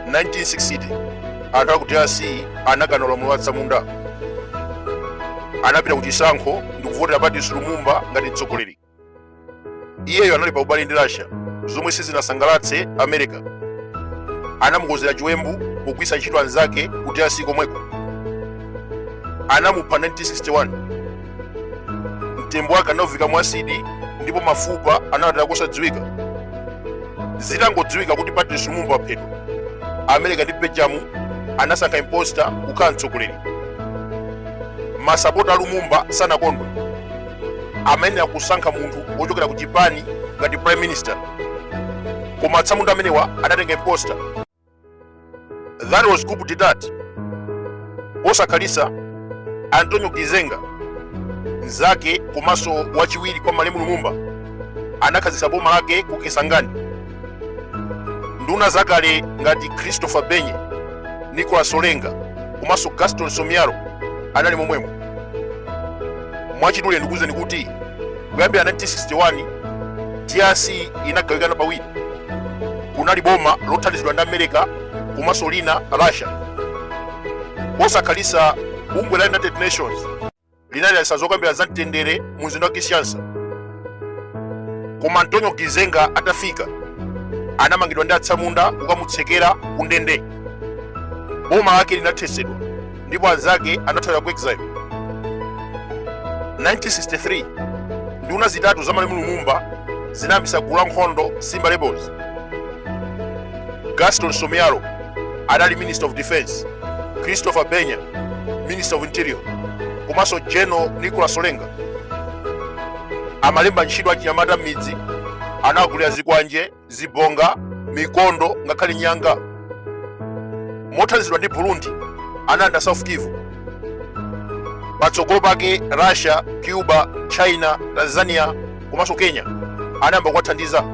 1960 anthu aku drc anakana ulamuliro wa atsamunda anapita ku chisankho ndi kuvotera patrice lumumba ngati mtsogoleri iyeyo anali pa ubale ndi russia zomwe sizinasangalatse america anamukonzera chiwembu pogwiritsa ntchito anzake ku drc komweko anamupha 1961 mtembo wake anauvika mu asidi ndipo mafupa anawataya kosadziwika. zitangodziwika kuti patrice lumumba waphedwa america ndi belgium anasankha imposta kukhala mtsogoleri masapota a lumumba sanakondwe amayenera kusankha munthu wochokera ku chipani ngati prime minister koma atsamunda amenewa anatenga imposta That was coup d'etat. Posakhalitsa Antonio Gizenga mzake komanso wachiwiri kwa malemu Lumumba anakhazikitsa boma lake ku Kisangani. Nduna zakale ngati Christopher Gbenye, Nicholas Olenga komanso Gaston Soumialot anali momwemo. Mwachidule ndikuwuzeni kuti kuyambira 1961 drc inagawikana pawiri kunali boma lothandizidwa ndi america komanso lina russia posakhalitsa bungwe la united nations linaliyesa zokambira za mtendere mu mzinda wa kinshasa koma antonio gizenga atafika anamangidwa ndi atsamunda kukamutsekera ku ndende boma lake linathesedwa ndipo anzake anathawira ku exile 1963 nduna zitatu za malemu lumumba zinayambisa gulu la nkhondo simba rebels gaston soumialot anali minister of defense christopher gbenye minister of interior komanso general nicholas olenga amalemba ntchito achinyamata m'midzi anawagulira zikwanje zibonga mikondo ngakhale nyanga mothandizidwa ndi burundi analanda south kivu patsogolo pake russia cuba china tanzania komanso kenya anayamba kuwathandiza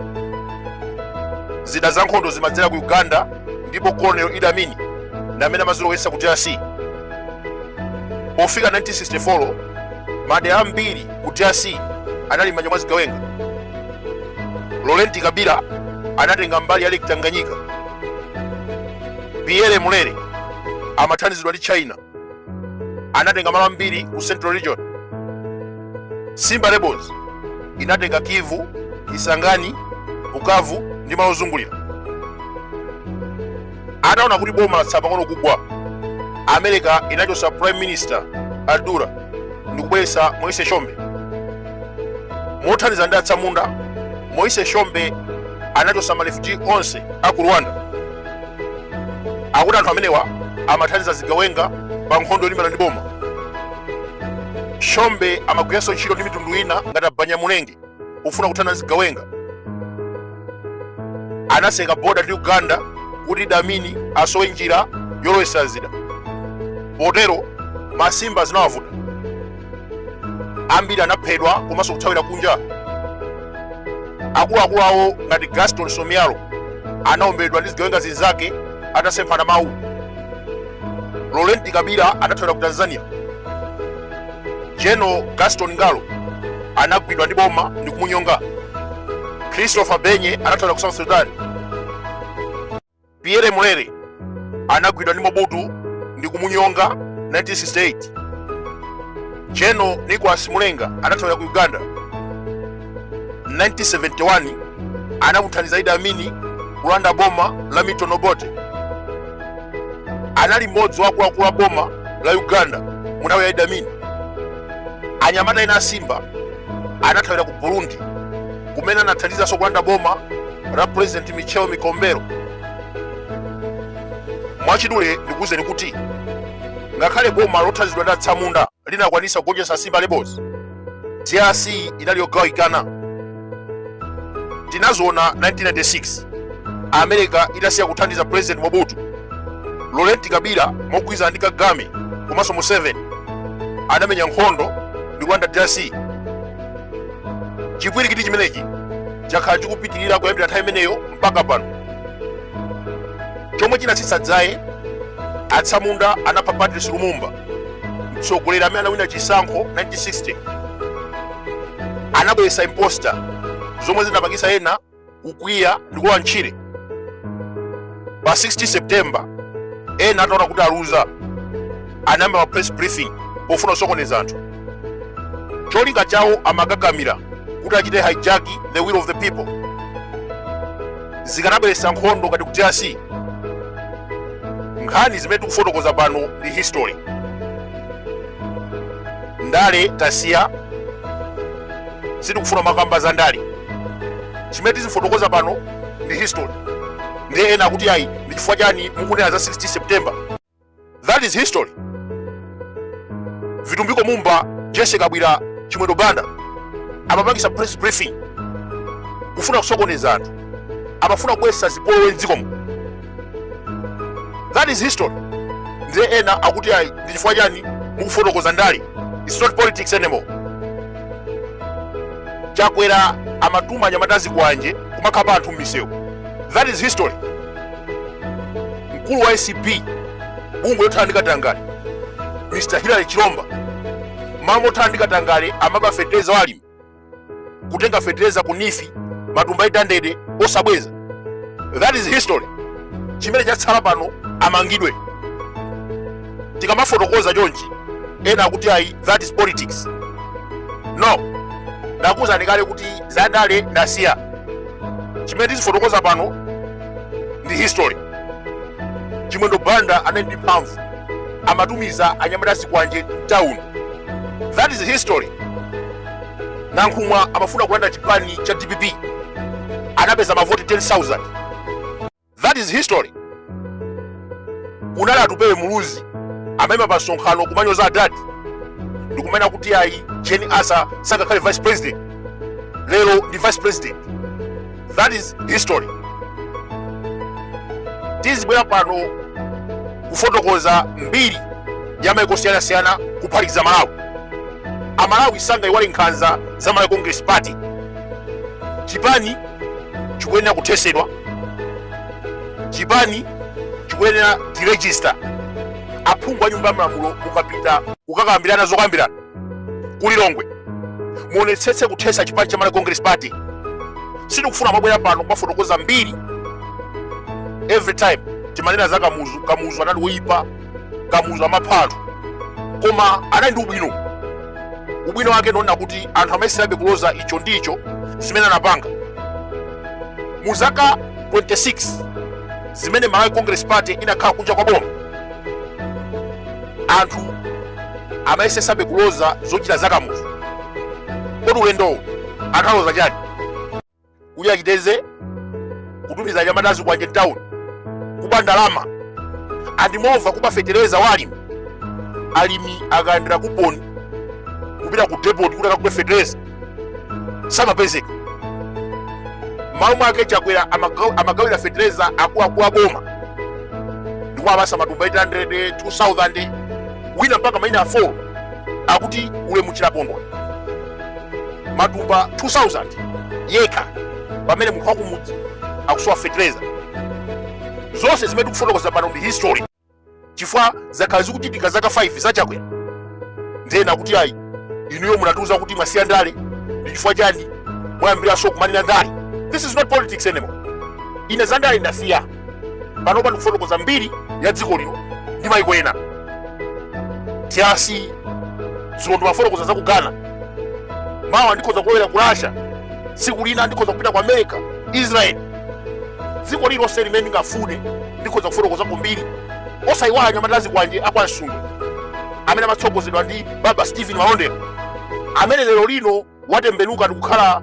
zida za nkhondo zimadzera ku uganda ndipo colonel idi amin ndi amene amazilowetsa ku drc pofika 1964 madera ambiri ku drc anali m'manja mwa zigawenga laurent kabila anatenga mbali ya lake tanganyika pierre mulele amathandizidwa ndi china anatenga malo ambiri ku central region simba rebels inatenga kivu kisangani bukavu ndi malo ozungulira ataona kuti boma latsala pang'ono kugwa america inachotsa prime minister Adoula ndi kubweretsa Moise Tshombe mothandiza ndi atsamunda Moise Tshombe anachotsa ma refugee onse a ku rwanda akuti anthu amenewa amathandiza zigawenga pa nkhondo yolimbana ndi boma Tshombe amagwiranso ntchito ndi mitundu ina ngati abanyamulenge pofuna kuthana ndi zigawenga anatseka boda ndi uganda kuti Idi Amin asowe njira yolowetsa zida potero masimba zinawavuta ambiri anaphedwa komanso kuthawira kunja akuluakulu awo ngati gaston Soumialot anaomberedwa ndi zigawenga zinzake atasemphana mawu laurent kabila anathawira ku tanzania general gaston ngalo anagwidwa ndi boma ndi kumunyonga Christophe Gbenye anathawira ku south sudan pierre Mulele anagwidwa ndi mobutu ndi kumunyonga 1968 general nicholas mulenga anathawira ku uganda 1971 anamuthandiza Idi Amini kulanda boma la Milton Obote. Anali mmodzi wa akuluakulu a boma la Uganda mu nthawi ya Idi Amini. Anyamata ena a Simba anathawira ku Burundi kumene anathandizanso kulanda boma la President Michel Micombero. Mwachidule ndikuwuzeni kuti ngakhale boma lothandizidwa ndi atsamunda linakwanisa kugonjetsa Simba Rebels, DRC inali yogawikana. Tinazoona 1996 America itasiya kuthandiza President Mobutu, Laurent Kabila mogwirizana ndi Kagame komanso Museveni anamenya nkhondo ndi kulanda DRC. Chipwirikiti chimenechi chakhala chikupitirira kuyambira nthawi imeneyo mpaka pano. Chomwe chinatsitsa dzaye atsamunda anapha Patrice Lumumba mtsogoleri amene anawina chisankho 1960 anabweretsa imposter zomwe zinapangisa ena kukwiya ndi kulowa ntchire pa 16 september ena ataona kuti aluza anayamba ma press briefing pofuna kusokoneza anthu cholinga chawo amakakamira kuti achite hijack the will of the people zikanabweretsa nkhondo ngati ku drc nkhani zimene tikufotokoza pano ndi history ndale tasiya sitikufuna kumakamba za ndale chimene tizifotokoza pano ndi history ndiye ena akuti ayi ndi chifukwa chani mukunena za 16 september That is history. Vitumbiko Mumba, Jesse Kabwira, Chimwendo Banda amapangisa press briefing kufuna kusokoneza anthu amafuna kubwesa zipolowe mdzikomo that is history ndiye ena akuti ayi ndi chifukwa chani mukufotokoza ndale its not politics anymore chakwera amatuma anyamata zikwanje kumakhapa anthu m'misewu that is history mkulu wa acb bungwe lothana ndi katangale mr hilary chilomba malo mothana ndi katangale amaba fetereza wa alimi kutenga fetereza ku neef matumba 800 osabweza that is history chimene chatsala pano amangidwe tikamafotokoza chonchi ena akuti ayi that is politics no ndakuwuzani kale kuti zandale ndasiya chimene tizifotokoza pano ndi history chimwendo banda anali ndi mphamvu amatumiza anyamata zikwanje mtauni that is history nankhumwa amafuna kulanda chipani cha dpp anapeza mavoti 10000 that is history kunali atupele muluzi amaima pa msonkhano kumanyoza adadi ndikumanena kuti ayi jane ansah sangakhale vice president lero ndi vice president that is history tizibwera pano kufotokoza mbiri ya maiko osiyanasiyana kuphatikiza malawi amalawi sangayiwale nkhanza za malawi congress party chipani chikuyenera kuthesedwa chipani chikuyenera deregister aphungu a nyumba ya malamulo mukapita kukakambirana zokambirana ku lilongwe muonetsetse kuthesa chipani cha malawi congress party sitikufuna kumabwera pano kumafotokoza mbiri every time timanena za kamuzu kamuzu anali woyipa kamuzu amapha anthu koma anali ndi ubwino ubwino wake ndionena kuti anthu amayeserabe kuloza icho ndi icho zimene anapanga mu zaka 26 zimene malawi congress party inakhala kunja kwa boma anthu amayesesabe kuloza zochita za kamuzu kodi ulendowo anthu aloza chani kuti achita izi kutumiza anyamata zikwanje mtauni kuba ndalama and moreover kuba fetereza wa alimi alimi akalandira kuponi kupita ku depot kuti akagule fetereza samapezeka mmalo mwake chakwera amagawira fetereza akuluakulu a boma ndikumawapasa matumba 800 2000 wina mpaka maina a 4 akuti ulemu chilapondwa matumba 2000 yekha pamene munthu wakumudzi akusowa fetereza zonse zimene tikufotokoza pano ndi history chifukwa zakhala zikuchitika zaka 5 za chakwera ndena kuti ayi inuyo munatiuza kuti mwasiya ndale ndi chifukwa chani mwayambiranso kumanena ndale this is not politics anymore ine za ndale ndasiya panopa ndikufotokoza mbiri ya dziko lino ndi maiko ena monga dzulo ndimafotokoza za ku ghana mawa ndikhoza kulowera ku russia tsiku lina ndikhoza kupita ku america israel dziko lilonse limene ndingafune ndikhoza kufotokoza kumbiri osayiwala anyamata azikwanje a kwa msundwe amene amatsogozedwa ndi baba stephen malondera amene lero lino watembenuka ndi kukhala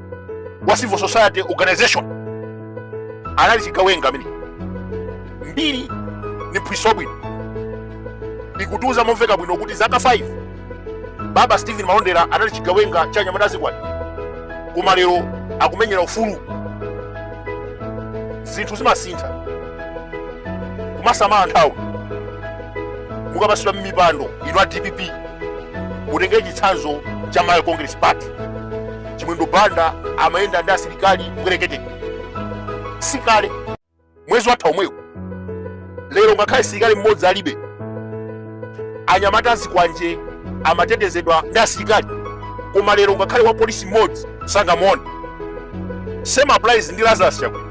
wa civil society organization anali chigawenga amene mbiri ni phwiso bwino ikutiuza momveka bwino kuti zaka 5 baba stephen malondera anali chigawenga cha anyamata azikwanje koma lero akumenyera ufulu zinthu zimasintha kumasamala nthawi mukapatsidwa mmipando ino a dpp mutengere chitsanzo cha malawi congress party chimwendo banda amayenda ndi asilikali mbwerekete sikale mwezi watha omwewu lero ngakhale msilikali mmodzi alibe anyamata azikwanje amatetezedwa ndi asilikali koma lero ngakhale wa polisi mmodzi sangamuone same applies ndi lazarus chakwera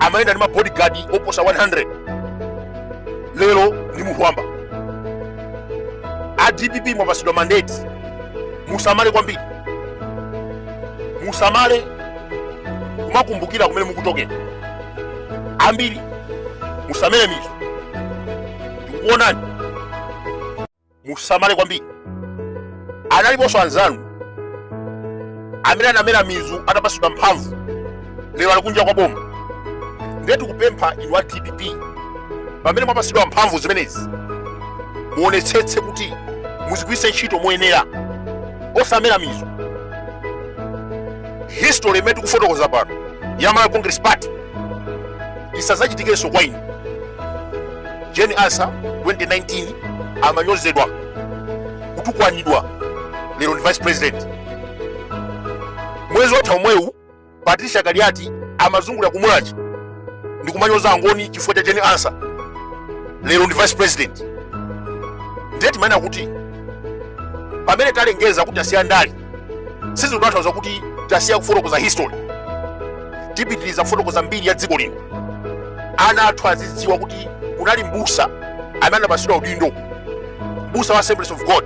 amayenda ndi mabodyguard oposa 100 lero ndi munthu wamba a dpp mwapatsidwa mandate musamale kwambiri musamale kumakumbukira kumene mukuchokera ambiri musamere mizu ndikuonani musamale kwambiri analiponso anzanu amene anamera mizu atapatsidwa mphamvu lero ali kunja kwa boma ndiye tikupempha inu a dpp pamene mwapatsidwa mphamvu zimenezi muonetsetse kuti muzigwiritse ntchito moyenera osamera mizu history imene tikufotokoza pano ya malawi congress party isazachitikenso kwa inu jane ansah 2019 amanyozedwa kutukwanidwa lero ndi vice president mwezi watha omwewu patricia kaliati amazungulira ku mulhako ndi kumanyoza angoni chifukwa cha jane ansah lero ndi vice president ndiye timanena kuti pamene talengeza kuti tasiya ndale sizikutanthauza kuti tasiya kufotokoza history tipitiriza kufotokoza mbiri ya dziko lino ana athu azidziwa kuti kunali mbusa amene anapatsidwa udindo mbusa wa assemblies of god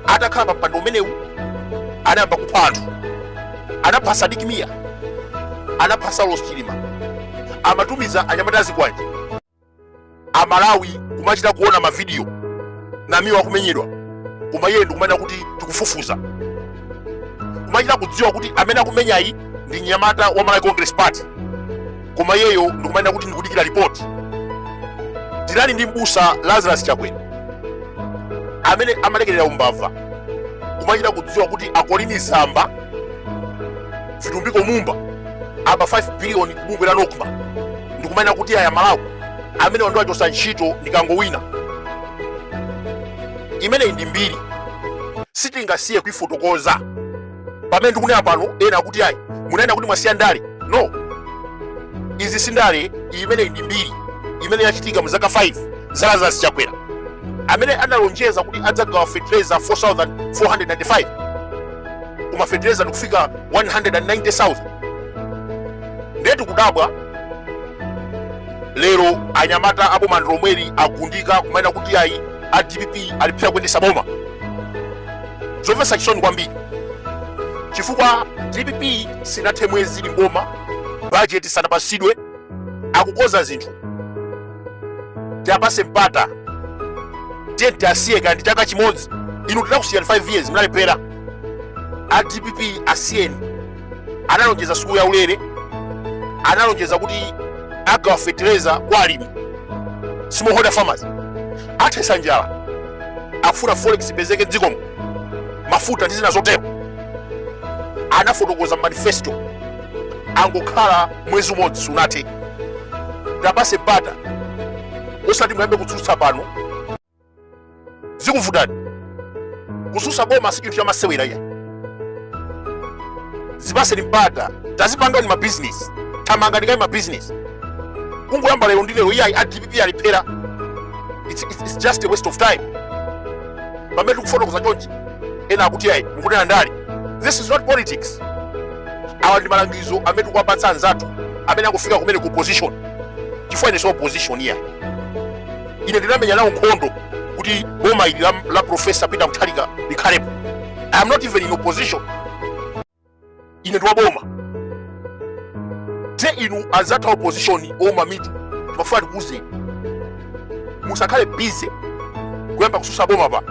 atakhala pa mpando umenewu anayamba kupha anthu anapha sidik mia anapha saulos chilima amatumiza anyamata azikwanje amalawi kumachita kuona mavidiyo namiwa akumenyedwa koma iyeyo ndikumanena kuti tikufufuza kumachita kudziwa kuti amene akumenyayi ndi mnyamata wa malawi congress party koma iyeyo ndikumanena kuti ndikudikira ripoti tinali ndi mbusa lazarus chakwera amene amalekerera umbava kumachita kudziwa kuti akolini zamba vitumbiko mumba aba 5 biliyoni kubungwe la nokma ndikumanena kuti ayi amalawi amene ndiwachosa ntchito ndikangowina imeneyi ndi mbiri sitingasiye kuifotokoza pamene ndikunena pano ena akuti ayi munanena kuti mwasiya ndale no izi si ndale imeneyi ndi mbiri imene yachitika mu zaka 5 za lazarus chakwera amene analonjeza kuti adzagawa fertilizer 4495 koma fetereza ndikufika 190,000 ndiye tikudabwa lero anyamata a bomandilomweli agundika kumanena kuti ayi a dpp alephera kuyendesa boma zomvetsa chisoni kwambiri chifukwa dpp sinathe mwezi ili mboma bajeti sanapasidwe akukoza zinthu tiapase mpata tiye tiwasiye kandi chaka chimodzi inu tinakusiyani 5 years mnalephera a dpp asiyeni analonjeza sukulu ya ulere analonjeza kuti agawa fetereza kwa alimi smallholder farmers athesa njala akufuna forex ipezeke mdzikomo mafuta ndi zina zotero anafotokoza manifesto angokhala mwezi umodzi sunathe tiapase mpata osati muyambe kutsutsa pano zikuvutani kususa boma si chinthu chamasewera iyayi zipaseni mpata tazipangani mabizinesi thamangani kaye mabizinesi kungoyamba lero ndi lero iyayi a dpp alephera it's, it's, it's just a waste of time pamene tikufotokoza chonchi ena akuti ayi mukunena ndale this is not politics awa ndi malangizo amene tikuwapatsa anzathu amene akufika kumene ku opposition chifukwa ine si opposition iya ine ndinamenya nawo nkhondo kuti boma ili la, la profesa peter mutharika likhalepo i am not even in opposition ine ndi waboma ndiye inu anzathu a opposition ouma mitu timafuna tikuuzeni musakhale bize kuyamba kususa boma pa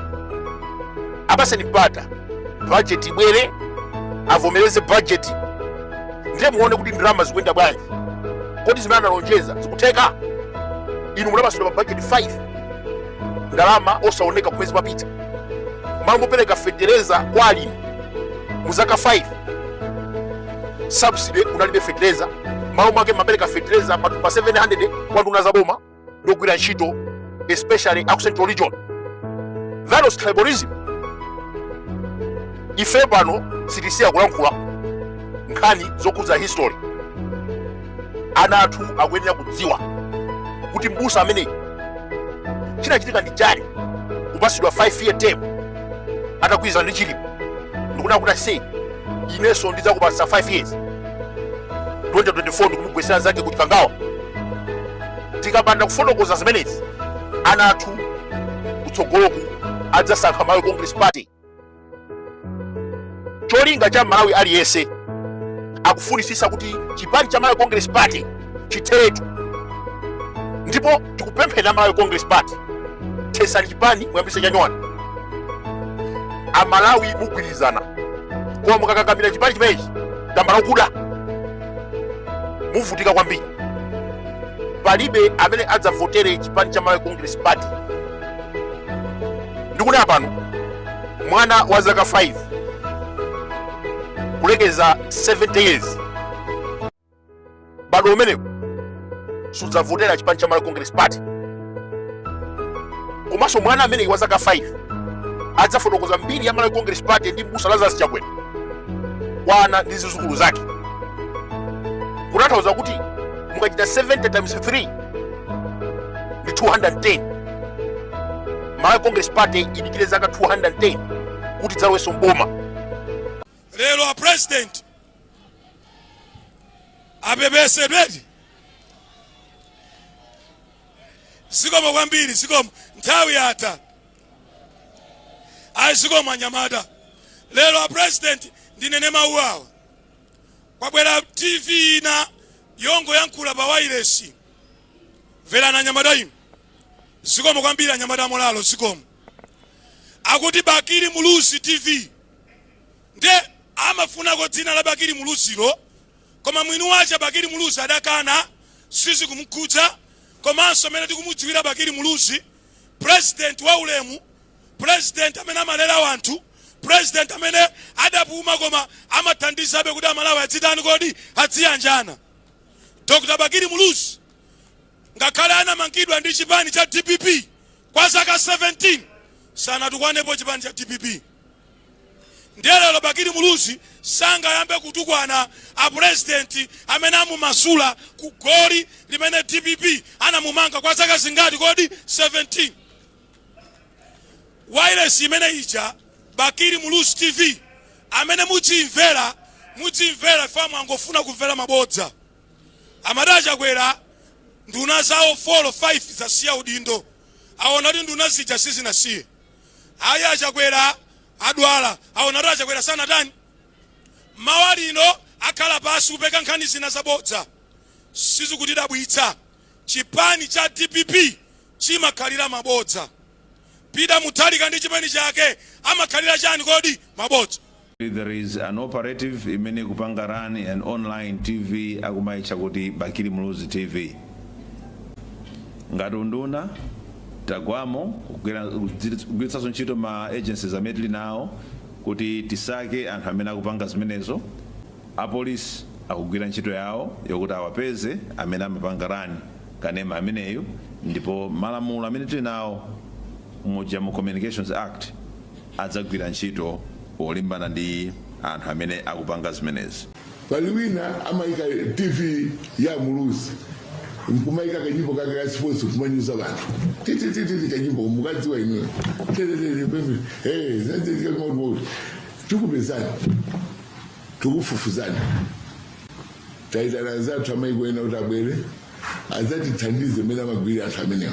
apaseni mpata bajeti ibwere avomereze bajeti ndiye muone kuti ndalama zikuyenda bwanji kodi zimene analonjeza zikutheka inu munapasidwa ma bajeti 5 ndalama osaoneka kumene zimapita malo mopereka fetereza kwa alimi mu zaka 5 subsidy kunalibe fetereza malo mwake mapereka fetereza matumba 700 kwa nduna za boma ndi ogwira ntchito especially aku central region that was tribalism ife pano sitisiya kulankhula nkhani zokhudza history ana athu akuyenera kudziwa kuti mbusa ameneyi chinachitika ndi chani kupasidwa 5 year term atagwirizana ndi Chilima ndikunena kuti ase inenso ndidzakupatsa 5 years 2024 ndikumugwesera zake ku chikangawa tikapanda kufotokoza zimenezi ana athu kutsogoloku adzasankha malawi congress party cholinga cha malawi aliyense akufunisisa kuti chipani cha malawi congress party chitheretu ndipo tikupempha a malawi congress party thesani chipani muyambise chanyuwani amalawi mugwirizane koma mukakakamira chipani chimenechi tambala wakuda muvutika kwambiri palibe amene adzavotere chipani cha malawi congress party ndikunena pano mwana wa zaka 5 kulekeza 70 years mbadwo umenewu sudzavotera chipani cha Malawi Congress Party komanso mwana ameneyu wa zaka 5 adzafotokoza mbiri ya Malawi Congress Party ndi mbusa Lazarus Chakwera kwa ana ndi zizukulu zake kutanthauza kuti mukachita 70 times 3 ndi 210 Malawi Congress Party idikire zaka 210 kuti idzalowenso mboma lero a president apepesedwe zikomo kwambiri zikomo nthawi yatha ayi zikomo anyamata lero a president ndinene mawu awa kwabwera tv ina yongoyankhula pa wailesi mverani anyamata inu zikomo kwambiri anyamata amolalo zikomo akuti bakili muluzi tv Nde amafunako dzina la Bakili Muluzilo koma mwini wache Bakili Muluzi adakana sizikumukhudza komanso mmene tikumudziwira Bakili Muluzi president wa ulemu president amene amalera anthu president amene adapuma koma amathandizabe kuti amalawi adzitani kuti adziyanjana Dr. Bakili Muluzi ngakhale anamangidwa ndi chipani cha dpp kwa zaka 17 sanatukwanepo chipani cha dpp Ndiye lero Bakili Muluzi sangayambe kutukwana a president amene amumasula ku goli limene dpp anamumanga kwa zaka zingati kodi 17 wireless imene ija Bakili Muluzi TV amene mudzimvera mudzimvera fe amangofuna kumvera mabodza amati a Chakwera nduna zawo 4 5 zasiya udindo aona kuti nduna zija sizinasiye Ayi a Chakwera adwala awona kuti a Chakwera sanatani mawa lino akhala pasi kupeka nkhani zina zabodza sizikutidabwitsa chipani cha dpp chimakhalira mabodza Peter Mutharika ndi chipani chake amakhalira chani kodi mabodza There is an operative imene ikupanga run an online TV akumaitcha kuti Bakili Muluzi TV. Ngati unduna tagwamo kugwiritsanso ntchito ma agencies amene tili nawo kuti tisake anthu amene akupanga zimenezo. Apolisi akugwira ntchito yawo yokuti awapeze amene amapanga run kanema ameneyu ndipo malamulo amene tili nawo muja mu Communications Act adzagwira ntchito yolimbana ndi anthu amene akupanga zimenezi. Pali wina amaika tv ya muluzi nkumaika kanyimbo kake ka sports kumanyoza anthu titititi kanyimbo mukudziwa inuyo tikupezani tikufufuzani taitana anzathu amaiko ena kuti abwere adzatithandize mmene amagwirira anthu amenewa